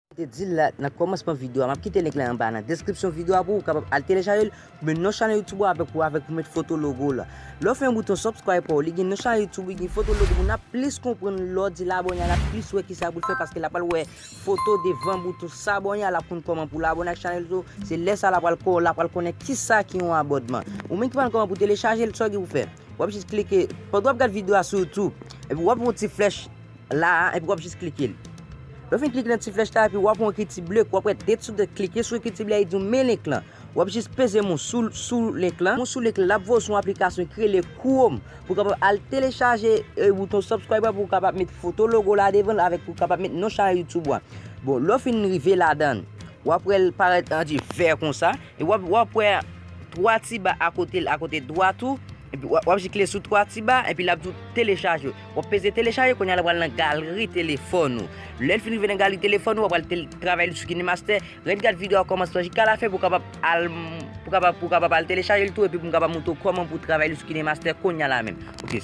Mwen te dil la nan kòmansman video a map kite link la anba nan deskripsyon video a pouw kapab al telechajel ou men non chanèl youtube ou avèk ou avèk pou met foto logo la lèw fè yon bouton subscribe paw li gen non chanèl youtube li gen foto logo moun ap plis konprann lèw dil abòne al ap plis wè kisa poul fè paske lap al wè foto devan bouton s'abonner a lap konn kòman poul abòne ak chanèl yo se lè sa lap al kò lap al konnen kisa ki yon abòdman ou menm ki pa konn kòman pou telechajel sa ou gen pou fè wap jis klike pandan wap gad video a sou youtube epi wap wè yon ti flèch La a epi wap jis klike li. Lè w fin klike nan ti flèch la epi wap wè yon ekriti ble wap wè date sou date klike sou ekriti ble a li di w men link lan. Wap jis peze mou sou link lan. Mou sou link lan lap voye w sou yon aplikasyon ki rele Chrome pou w kapab al telechaje bouton subscribe la pou w kapab met foto logo la devan l avèk pou w kapab met non chanèl YouTube ou a. Bon lè w fin rive ladan wap wè l parèt an di vè konsa e wap wè 3 ti ba akote l akote dwat ou epi wap jis klike sou 3 ti ba epi lap di w telechaje. Wap peze telechaje kounye a la pral nan galri telefòn ou. Lèl fin rive nan galri telefòn ou wap pral tel travay li sou KineMaster. Ret gad video a kòmansman jika la fen pou kapab al pou kapab pou kapab al telechaje l tou epi pou m kapab montre w kòman pou travay li sou KineMaster kounye a la menm. Ok.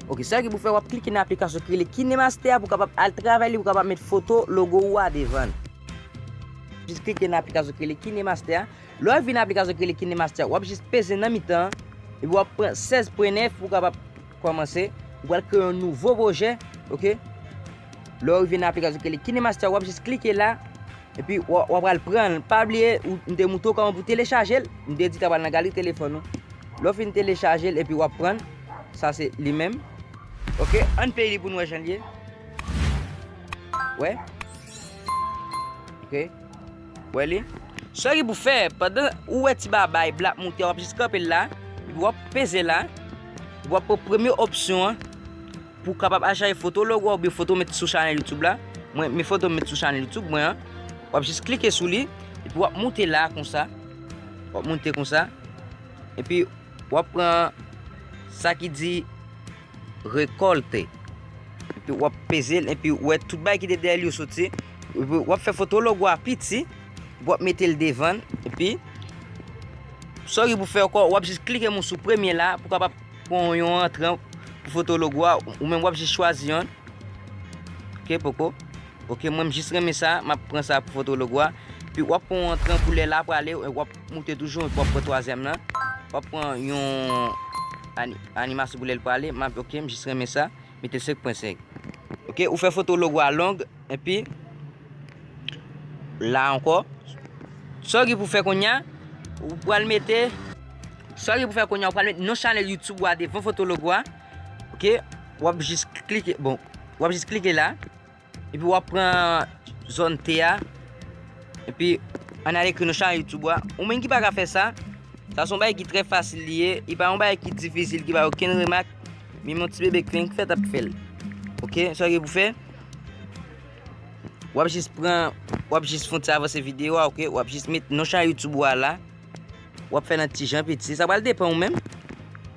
Ok, sa ki pou fè wap klike nan aplikasyon ki rele KineMaster pou kapab al travay li pou kapab met foto logo ou a devan. Jis klike nan aplikasyon ki rele KineMaster. Lè w vin nan aplikasyon ki rele KineMaster, w ap jis peze nan mitan an, epi w ap pran 16 pwen 9 pou w kapab kòmanse. Ou pral kreye yon nouvo pwojè, ok. Lè w rive nan aplikasyon ki rele KineMaster, w ap jis klike la, epi w ap pral pran l. Pa bliye, m te montre w kòman pou telechaje l, m te di ta pral nan galeri telefòn ou. Lè w fin telechaje l epi w ap pran l, sa se li menm. Ok, an n pleye li pou n wè jan l ye. Wè? Ok. Wè li? Sa ki pou fè, pandan ou wè ti babay blan ap moute, wap jis kanpe l la, epi wap peze la, epi wap pran premye opsyon an, pou kapab al chache foto logo a oubyen foto met sou chanèl YouTube la, mwen men foto met sou chanèl YouTube mwen an, wap jis klike sou li, epi wap moute la konsa, wap moute konsa, epi wap pran sa ki di rekolte, epi wap peze l, epi wè tout bay ki te dèyè li yo soti. Epi wap fè foto logo a piti, epi wap metel devan, epi sa ou gen pou fè ankò, wap jis klike mou sou premye la pou kapab pran yon antran pou foto logo a, ou menm wap jis chwazi yon. Ok poko. Ok mwen m jis renmen sa, map pran sa pou foto logo a. Epi wap pran yon antran pou lè la pou ale, wap moute toujou, epi wap pran twazyèm la. Wap pran yon animasyon pou lè l pou ale, map ok, m jis renmen sa. mete 5 pwen 5 ok ou fè foto logo a long epi la ankò sa ki pou fè konya ou pral mete sa ki pou fè konya ou pral mete non chanel youtube ou a devan foto logo a ok wap jis klike bon wap jis klike la Epi wap pran zòn T a. Epi an al ekri nou chanel YouTube wa. Ou menm ki pa ka fè sa. Sa son bay ki trè fasil li ye. E pa yon bay ki difisil ki pa yon ken remak. Mi mon ti bebe krenk fè tap fèl. Ok. Sa ki pou fè. Wap jis pran. Wap jis fon ti avanse video wa ok. Wap jis met nou chanel YouTube wa la. Wap fè nan tijan piti. Sa pral depan ou menm.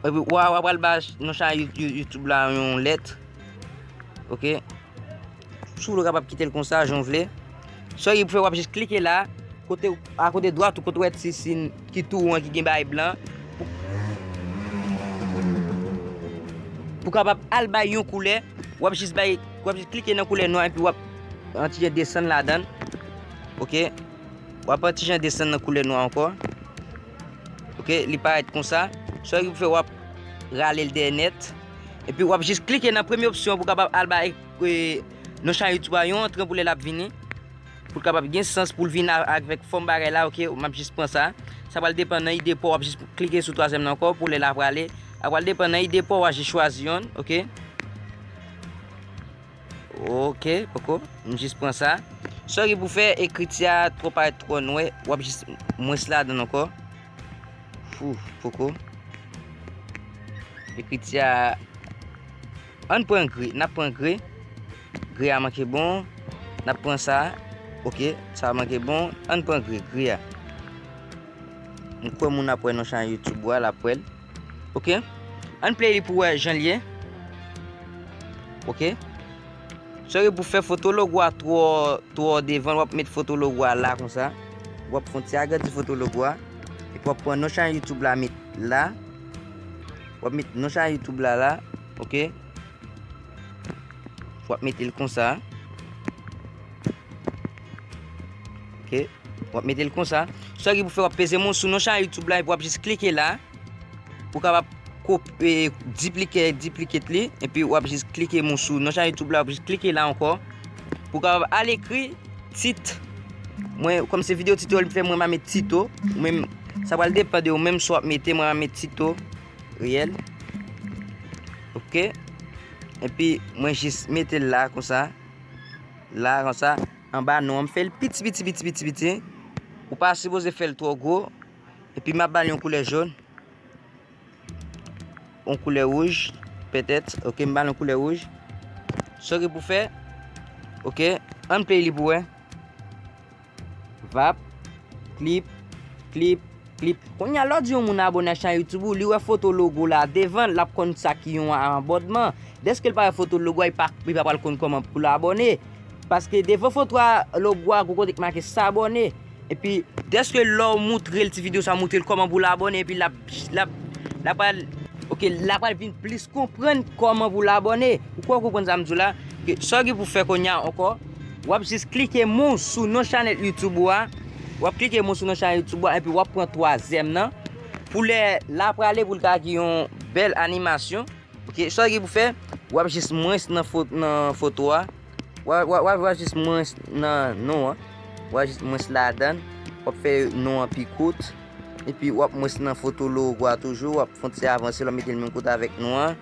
Epi wap wap pral ba nou chan YouTube la yon let. Ok. Sou vle kapap kite l konsa jan vle. Sa yon pou fè wap jis klike la. Kote a kote dwat ou kote wè ti sin ki tou ou an ki gen bay blan. Pou kapap al bay yon koulè. Wap jis bay wap jis klike nan koulè nwa epi wap an tijan desan ladan. Ok. Wap wè tijan desann nan koulè nwa ankò ok li parèt konsa sèl sa pou fè wap ralel dèyè nèt epi wap jis klike nan premye opsyon pou kapab al bay nan chan YouTube a yon antren pou lè lap vini pou kapab gen sans pou vin avèk fòm bagay la ok map jis pran sa sa pral depan nan ide paw wap jis klike sou twazyèm nan ankò pou lè la prale sa pral depan nan ide paw wap jis chwazi yonn ok. Ok poko m jis pran sa. Sorry pou fè ekriti a tro parèt tro nwè, wap jis mwens ladann ankò. Fou, poko. Ekriti a Ann pran gri, nap pran gri. Gri a manke bon. Nap pran sa. Ok, sa manke bon. Ann pran gri, gri a. M kwè moun ap wè nan chanel YouTube ou a, lap wèl. Ok Ann play li pou wè janl ye Ok Sore pou fè foto logo a twò twò devan wap met foto logo a la konsa Wap fon ti agrandi foto logo a Epi wap pran non chanel youtube la met la Wap met non chanel youtube la la Ok Wap metel konsa Ok, wap mete l konsa. Sa ki pou fè wap peze moun sou non chan YouTube la epi wap jis klike la. Pou kapap kopi, diplike, diplike li. Epi wap jis klike moun sou non chan YouTube la, wap jis klike la ankò. Pou kapap al ekri tit. Mwen, kòm se video tito li fè mwen ma met tito. Mwen, sa pral depan de ou menm sou wap mete mwen ma met tito. Riyèl. Ok. Epi mwen jis mete la konsa. La konsa. Anba non an m fel piti piti piti piti piti ou pa sipoze fel tro gwo epi map bal yon koulè jaune yon koulè rouge peut-être ok m bal yon koulè rouge so ki pou fè ok an play li pou wè vap clip clip Li Konya lè w di yon moun abone ak chan youtube ou li wè foto logo la devan lap konn sa ki yon abònman dèske l pa wè foto logo a li pa pral konn kòman pou l abòne paske devan foto a logo a gwo kote ki make sabòne epi dèske lè w moutre l ti video sa moutre l kòman pou l abòne epi lap lap pral ok lap pral vin plis konprann kòman pou l abòne ou kwè w konprann sa m di w la sa w gen pou fè konya ankò. Wap jis klike mou sou non chanèl youtube ou a Wap klike mou sou non chanèl youtube ou a Epi wap pran twazyèm nan Pou lè la prale pou l ta gen yon bèl animasyon Ok sa w gen pou fè Wap jis mwen nan foto a Wap jis mwen nan non an Wap jis mwen ladan Wap fè non an pi kout Epi wap mwen nan foto logo a toujou Wap fon ti avanse l wap mete l menm kote avèk non an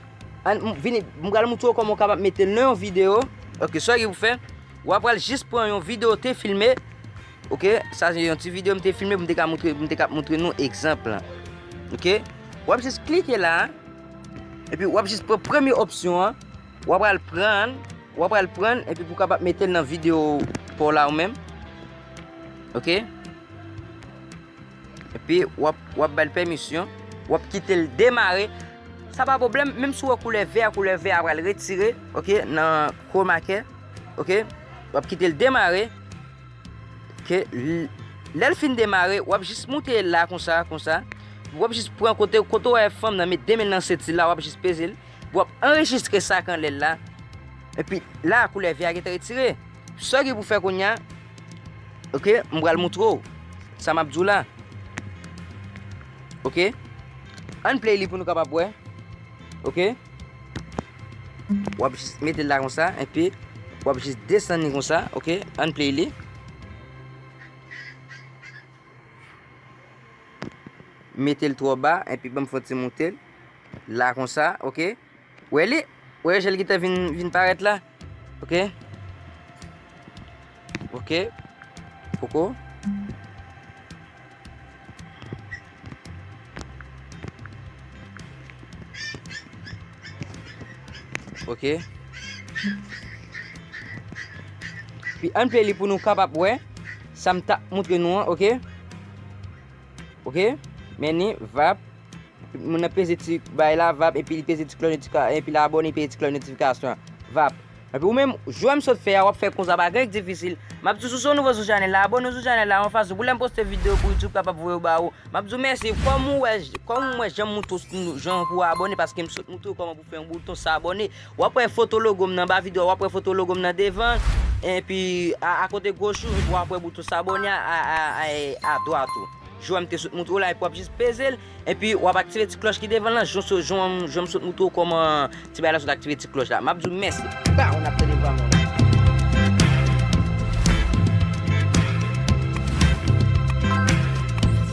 An m vini, m pral moutre w kòman w kapab mete l nan yon video. Ok, sa w gen pou fè, w a pral jis pran yon video w te filme, ok, sa se yon ti video m te filme pou m te ka moutre, pou m te ka moutre nou egzanp lan. Ok, w ap jis klike la, epi w ap jis pran premye opsyon an, w a pral pran, w a pral pran, epi pou w kapab mete l nan video pa w la ou menm. Ok. Epi wap bal pèmisyon, wap kitel demare, sa pa pwoblèm, menm si wè koulè vè a, koulè vè a pral retire, ok, nan chromakey, ok, wap kitel demare, ok, lèl fin demare, wap jis moute la konsa, konsa, wap jis pran kote, kote wè fanm nan met demenl nan senti la, wap jis pezel, wap anrejistre sa kan lèl la, epi la koulè vè a gete retire, sa ki pou fè kounya, Ok, m pral moutre w sa m ap di w la. Ok, ann play li pou nou kapab wè. Ok, w ap jis mete l la kon sa, enpi w ap jis desann li kon sa. Ok, ann play li. Mete l twò ba, enpi ban m fon ti moute l. La kon sa, ok. Wè li? Wè jèl ki te vin parèt la? Ok. Ok. Poko. Ok. Pi an play li pou nou kapap wè. Sa m ta moutre nou an. Ok. Ok Meni vap Moun nan peze ti bay la vap epi li peze ti klon notifikasyon epi la abone epi ti klon notifikasyon vap epi ou menm jwem sot fè a wap fè konsa pa gen difisil map di sou son nouvo sou chanel la abone sou chanel la yon fason pou lèm poste video pou youtube kapab voye ba ou map di merci kòm ou wè kòm ou wè jan mouto jan pou abone paske m sot mouto kòman pou fè yon bouton sa abone Wap wè foto logo m nan ba video a wap wè foto logo m nan devan epi a kote goch ou epi wap wè bouton s'abonner a a dwat ou jan m te sot moutre w la epi wap jis peze l epi wap aktive ti klòch ki devan lan jan m sot moutre w kòman ti bagay la sot aktive ti klòch la map di w mèsi baww nap tande vwa moun.